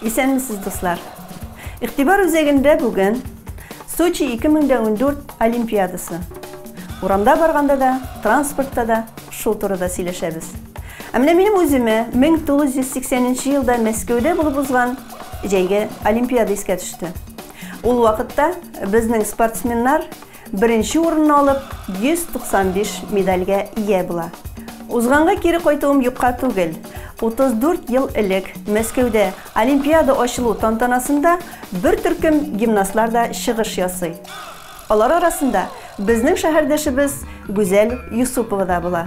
Исәнмесез, дуслар! Игътибар үзәгендә бүген Сочи 2014 Олимпиадасы. Урамда барганда да, транспортта да шул турыда сөйләшәбез. Ә менә минем үземә 1980 елда Мәскәүдә булып узган җәйге Олимпиада искә төште. Ул вакытта безнең спортсменнар Беренче урынны алып, 195 медальгә ия була. Узганга кире кайтуым юкка түгел. 34 ел элек Мәскәүдә Олимпиада ачылу тантанасында бер төркем гимнастлар да чыгыш ясый. Алар арасында безнең шәһәрдәшебез Гүзәл Юсупова да була.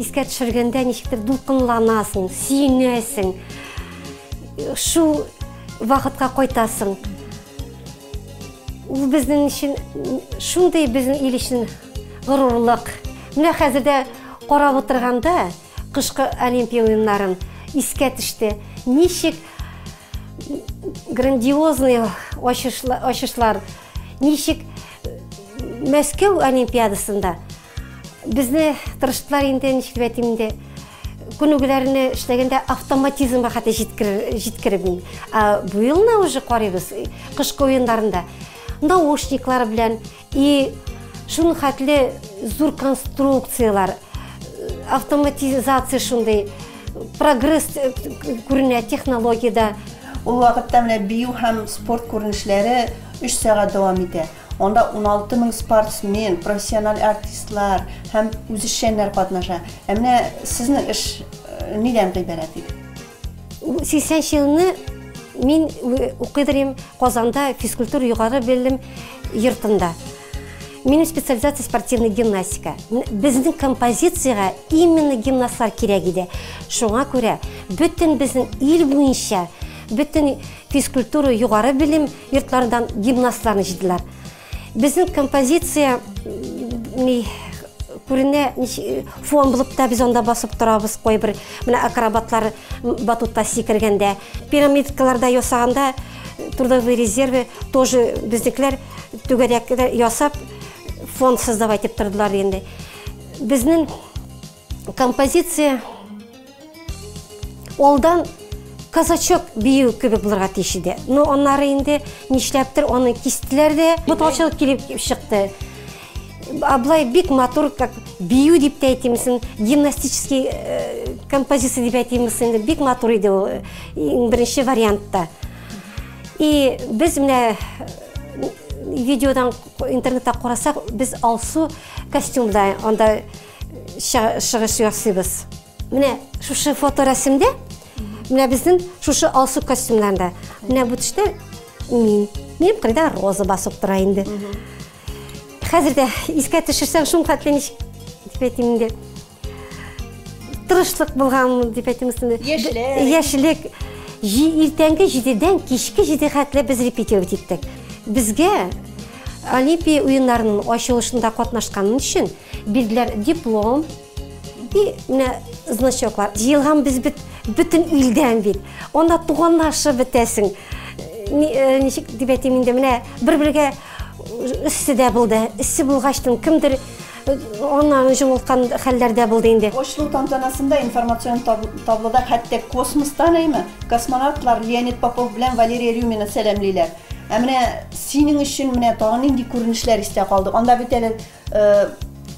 Искә төшергәндә ничектер дулкынланасың, сөенәсең. Шул вакытка кайтасың. Ул безнең өчен шундый безнең ил өчен горурлык. Менә хәзер дә карап утырганда кышкы Олимпия уеннарын искә төште. Ничек грандиозный ачышлар, ничек Мәскәү Олимпиадасында Безне тырыштылар инде, ничек дип әйтим инде, күнегүләрне эшләгәндә автоматизмга хәтта җиткереп мин. Ә бу елны уже карыйбыз кышкы уеннарында наушниклар белән и шуның хәтле зур конструкциялар, автоматизация шундый, прогресс э, күренә технологиядә. Ул вакытта менә бию һәм спорт күренешләре 3 сәгать дәвам итә. Анда уналты мең спортсмен, профессиональ артистлар һәм үзешчәннәр катнаша. Ә менә сезнең эш нидән гыйбарәт иде? Ул 80 елны мин укыдырым Казанда физкультура югары белем йортында. Минем специализация спортивный гимнастика. Безнең композицияга именно гимнастлар кирәк иде. Шуңа күрә бөтен безнең ил буенча, бөтен Физкультура, югары белем йортларыннан гимнастларны җыйдылар. Безнең композиция күренә фон булып та без анда басып торабыз кайбер менә акробатлар батутта сикергәндә пирамидкаларда ясаганда трудовые резервы тоже безнекеләр түгәрәкләр ясап фон создавать итеп тордылар инде безнең Композиция олдан казачок бию кебек булырга тиеш иде. Но аннары инде нишләптер аны кистеләр дә, буталчылык килеп чыкты. Аблай бик матур, как бию дип тә әйтимсен, гимнастический э, композиция дип әйтимсен, инде бик матур иде ул э, беренче вариантта. И без менә э, видеодан интернетта карасак, без Алсу костюмда анда чыгыш ясыйбыз. Менә шушы фоторәсемдә, менә безнең шушы алсу костюмнарында. Менә бу төштә мин. Минем кырда роза басып тора инде. Хәзер дә искә төшерсәң шул хәтле ничек дип әйтим инде. Тырышлык булган дип әйтим өстендә. Яшьлек. Яшьлек. Иртәнге 7-дән кичке 7 хәтле без репетировать иттек. Безгә Олимпия уеннарының ачылышында катнашканың өчен Бирделәр диплом и менә значоклар. Җыелган без бит бөтен илдән бит. Анда туганлашып бетәсең. Э, ничек дип әйтим инде, менә бер-бергә өссе дә булды. Өссе булгачтын кемдер э, аннан җылылткан хәлләрдә булды инде. Очлу тантанасында информацион таблода хәтта космостан әйме космонавтлар Леонид Попов белән Валерия Рюмина сәламлиләр. Ә менә синең өчен менә тагын нинди күренешләр истә калды? Анда бит әле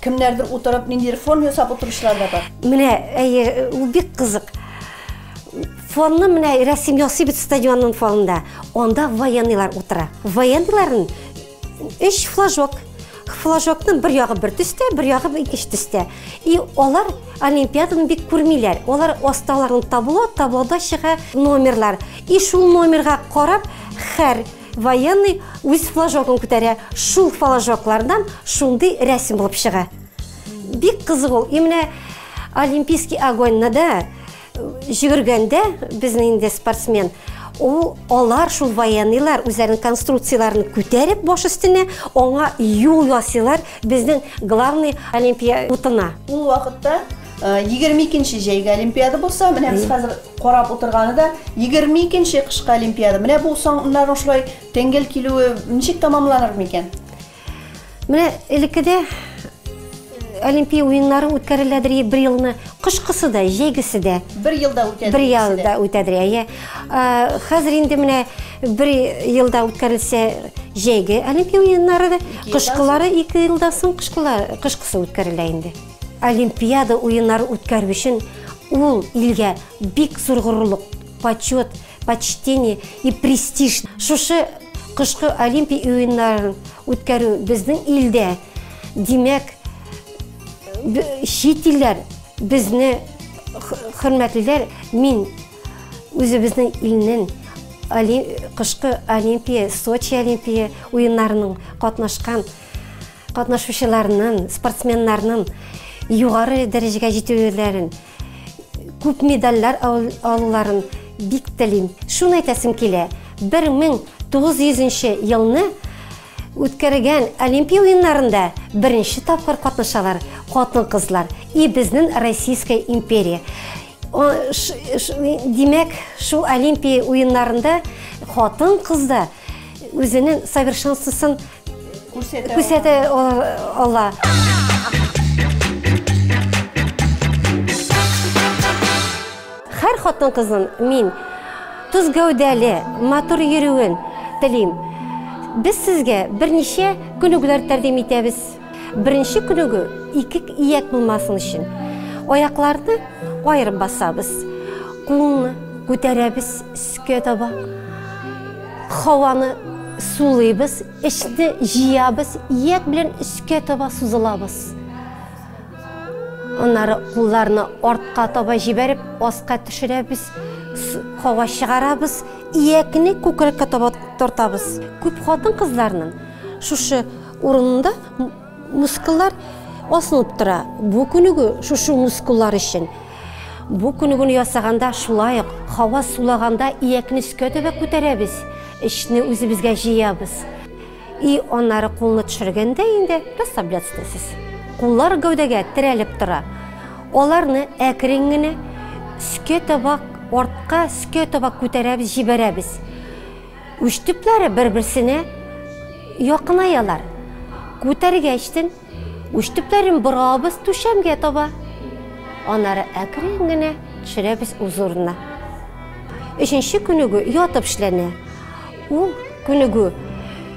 Кемнәрдер утырып, ниндидер фон ясап утыручылар да бар. Менә, әйе, ул бик кызык. Фонны менә рәсем ясый бит стадионның фонында. Анда военныйлар утыра. Военныйларын өч флажок. Флажокның бер ягы бер төстә, бер ягы икенче төстә. И алар олимпиаданы бик күрмиләр. Алар асталарын табло, таблода чыга номерлар. И шул номерга карап, хәр Военный үз флажогын күтәрә, шул флажоклардан шундый рәсем булып чыга. Бик кызык ул. И менә Олимпийский огоньна да э, җөгергәндә безнең инде спортсмен ул алар шул военныйлар үзләренең конструкцияләрен күтәреп баш өстенә аңа юл ясыйлар безнең главный олимпия утына. Ул вакытта Егерме икенче җәйге Олимпиада булса, менә без хәзер карап утырганы да егерме икенче кышкы Олимпиада. Менә бу саннарның шулай тәңгәл килүе ничек тамамланыр микән? Менә элеккедә Олимпия уеннары үткәреләдер бер елны. Кышкысы да, җәйгесе дә. Бер елда үтәдер. Бер елда үтәдер, әйе. Хәзер инде менә бер елда үткәрелсә җәйге Олимпия уеннары да, кышкылары ике елдан соң кышкысы үткәрелә инде. Олимпиада уеннары үткәрү өчен ул илгә бик зур горурлык, почет, почтение и престиж. Шушы кышкы Олимпия уеннарын үткәрү безнең илдә, димәк, чит илләр безне хөрмәтлиләр. Мин үзебезнең илнең кышкы Олимпия, Сочи Олимпия уеннарының катнашкан Катнашучыларның, спортсменнарның югары дәрәҗәгә җитүләрен, күп медальләр алуларын бик телим. Шуны әйтәсем килә, 1900 нче елны үткәргән Олимпия уеннарында беренче тапкыр катнашалар хатын-кызлар и безнең Российская империя. Димәк, шул Олимпия уеннарында хатын-кыз да үзенең совершенствосын Күрсәтә ала. Хәр хатын кызын мин тоз гәүдәле, матур йөрүен телим. Без сезгә берничә күнегүләр тәкъдим итәбез. Беренче күнегү ике ияк булмасын өчен. Аякларны аерып басабыз. Кулны күтәрәбез Өскә таба. Һаваны сулыйбыз, эчне җыябыз, ияк белән өскә таба сузылабыз. Аннары кулларны артка таба җибәреп, аска төшерәбез, һава чыгарабыз, иякне күкрәккә таба тартабыз. Күп хатын-кызларның шушы урында Мускуллар асылып тора. Бу күнегү шушы мускуллар өчен. Бу күнегүне ясаганда шулай ук һава сулаганда иякне өскә таба күтәрәбез, эчне үзебезгә җыябыз. И аннары кулны төшергәндә инде расслабляться итәсез. Куллар гәүдәгә терәлеп тора. Аларны әкрен генә өскә таба, артка, өскә таба күтәрәбез, җибәрәбез. Уч төпләре бер-берсенә якынаялар. Күтәргәчтен, уч төпләрен борабыз түшәмгә таба. Анары әкрен генә төшерәбез үз урынына. Өченче күнегү ятып эшләнә. Ул күнегү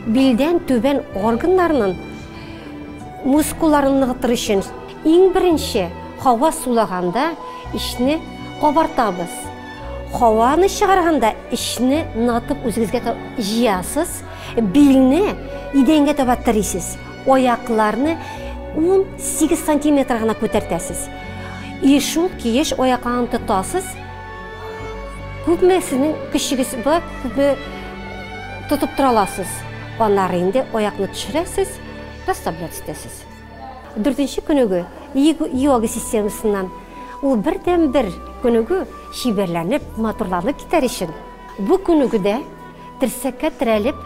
билдән түбән органнарның мускулларын ныгытыр өчен иң беренче һава сулаганда ишне кабартабыз. Һаваны чыгарганда эчне ныгытып үзегезгә җыясыз, билне идәнгә таба терисез, аякларны 18 сантиметр гына күтәртәсез. И шул киеш аякларны тотасыз. Күпме сезнең көчегез бар, күпме тотып тора аласыз. Аннары инде аякны төшерәсез, расслабляться итәсез. Дүртенче күнегү, йога системасыннан. Ул бердәнбер күнегү чибәрләнеп, матурланып китәр өчен, бу күнегүдә терсәккә терәлеп,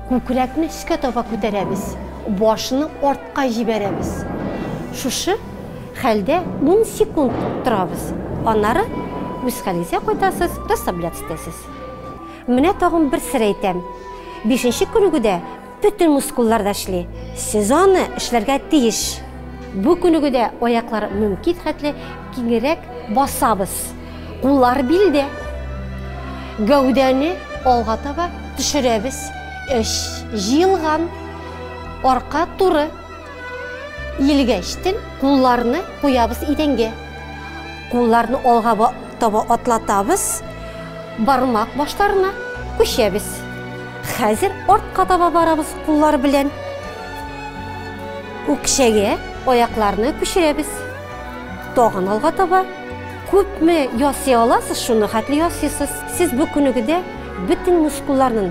күкрәкне өскә таба күтәрәбез, башны артка җибәрәбез. Шушы хәлдә ун секунд торабыз. Аннары үз хәлегезгә кайтасыз, расслабляться итәсез. Менә тагын бер сер әйтәм. Бишенче күнегүдә Бөтен мускуллар да эшли. Сез аны эшләргә тиеш. Бу күнегүдә аяклар мөмкин хәтле киңрәк басабыз. Куллар билдә. Гәүдәне алга таба төшерәбез. Эш җыелган. Арка туры. Илгәчтен кулларны куябыз идәнгә. Кулларны алга таба атлатабыз, бармак башларына күчәбез. Хәзер артка таба барабыз куллар белән. Үкчәгә аякларны күчерәбез. Тагын алга таба. Күпме ясый аласыз, шуны хәтле ясыйсыз. Сез бу күнегүдә бөтен мускулларның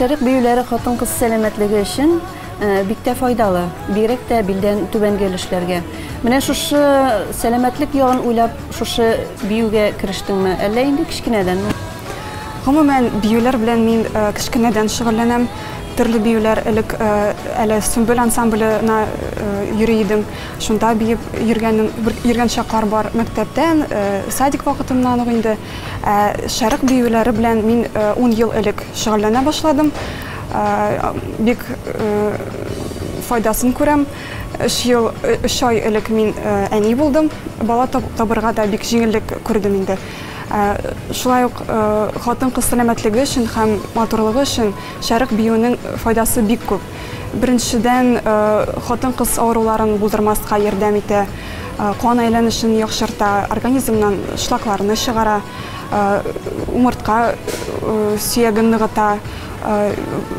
Шәрык биюләре хатын-кыз сәламәтлеге өчен бик тә файдалы, бигрәк тә билдән түбәнге өлешләргә. Менә шушы сәламәтлек ягын уйлап, шушы биюгә керештеңме? Әллә инде кечкенәдәнме? Гомумән, биюләр белән мин кечкенәдән шөгыльләнәм. Төрле биюләр элек әле Сөмбел ансамбленә йөри идем. Шунда биеп йөргәнем, йөргән чаклар бар мәктәптән, э, садик вакытыннан ук инде. Ә шәрык биюләре белән мин э, ун ел элек шөгыльләнә башладым. Э, бик файдасын күрәм. Өч ел, өч ай элек мин әни булдым. Бала табырга да бик җиңеллек күрдем инде. Шулай ук хатын-кыз сәламәтлеге өчен һәм матурлыгы өчен шәрык биюнең файдасы бик күп. Беренчедән, хатын-кыз авыруларын булдырмаска ярдәм итә, кан әйләнешен яхшырта, организмнан шлакларны чыгара, умыртка сөяген ныгыта.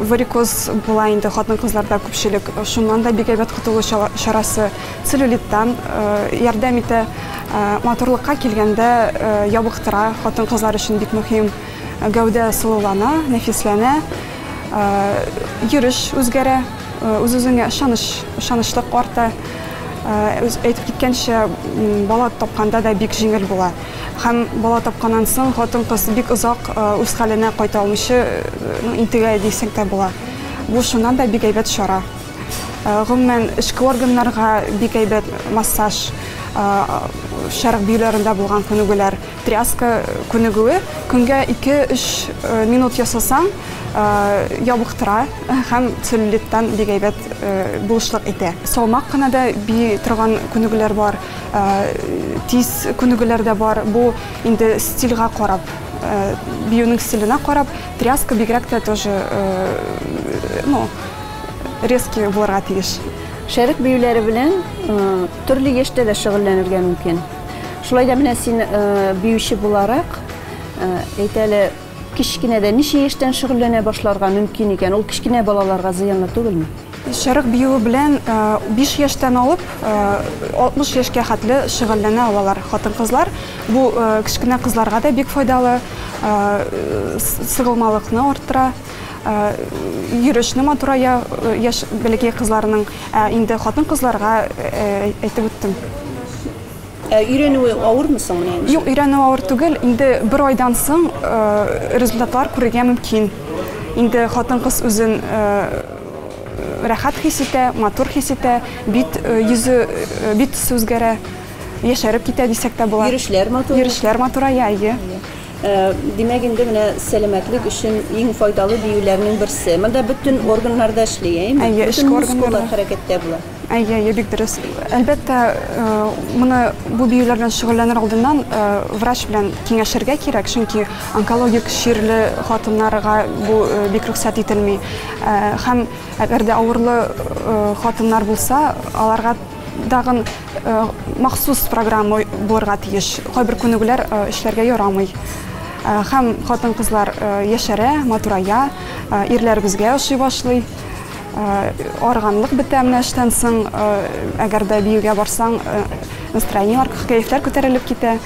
Варикоз була инде хатын-кызларда күпчелек, шуннан да бик әйбәт котылу чарасы. Целлюлиттан ярдәм итә. Матурлыкка килгәндә, ябыктыра, хатын-кызлар өчен бик мөһим. Гәүдә сылулана, нәфисләнә. Йөреш үзгәрә, үз-үзеңә ышаныч, ышанычлык арта. Әйтеп киткәнчә, бала тапканда да бик җиңел була. Һәм бала тапканнан соң хатын-кыз бик озак үз хәленә кайта алмыйча интегә дисәң дә була. Бу шуннан да бик әйбәт чара. Гомумән, эчке органнарга бик әйбәт массаж, шәрык биюләрендә булган күнегүләр, Тряска күнегүе, көнгә 2-3 минут ясасаң, ябыктыра һәм целлюлиттан бик әйбәт булышлык итә. Салмак кына да бии торган күнегүләр бар, тиз күнегүләр дә бар. Бу инде стильга карап, биюнең стиленә карап, тряска бигрәк тә тоже, ну, резкий булырга тиеш. Шәрык биюләре белән төрле яшьтә дә шөгыльләнергә мөмкин. Шулай да менә син биюче буларак, әйт әле, кечкенәдә ничә яшьтән шөгыльләнә башларга мөмкин икән? Ул кечкенә балаларга зыянлы түгелме? Чырык биюе белән 5 яшьтән алып 60 яшькә хәтле шөгыльләнә алалар хатын-кызлар. Бу кечкенә кызларга да бик файдалы, сыгылмалыкны арттыра. йөрешне матурая яшь бәләкәй кызларның. Ә инде хатын-кызларга әйтеп үттем. Ә өйрәнүе авырмы соң менә инде? Юк, өйрәнүе авыр түгел. Инде бер айдан соң результатлар күрергә мөмкин. Инде хатын-кыз үзен рәхәт хис итә, матур хис итә, бит йөзе, бит төсе үзгәрә, яшәреп китә дисәк тә була. Йөрешләр матур. Йөрешләр матурая, әйе. Димәк инде менә сәламәтлек өчен иң файдалы биюләрнең берсе. Монда бөтен органнар да эшли, әйеме? Әйе, бөтен эчке органнар мускуллар да. хәрәкәттә була. Әйе, әйе, бик дөрес. Әлбәттә, э, моны бу биюләр белән шөгыльләнер алдыннан э, врач белән киңәшергә кирәк, чөнки онкологик чирле хатыннарга бу э, бик рөхсәт ителми. Э, Һәм әгәр дә авырлы э, хатыннар булса, аларга тагын Махсус программа булырга тиеш. Кайбер күнегүләр эшләргә ярамый. Һәм хатын-кызлар яшәрә, матурая, ирләребезгә ошый башлый. Арыганлык бетә менә эштән соң, әгәр дә биюгә барсаң, настроениеләр, кәефләр күтәрелеп китә.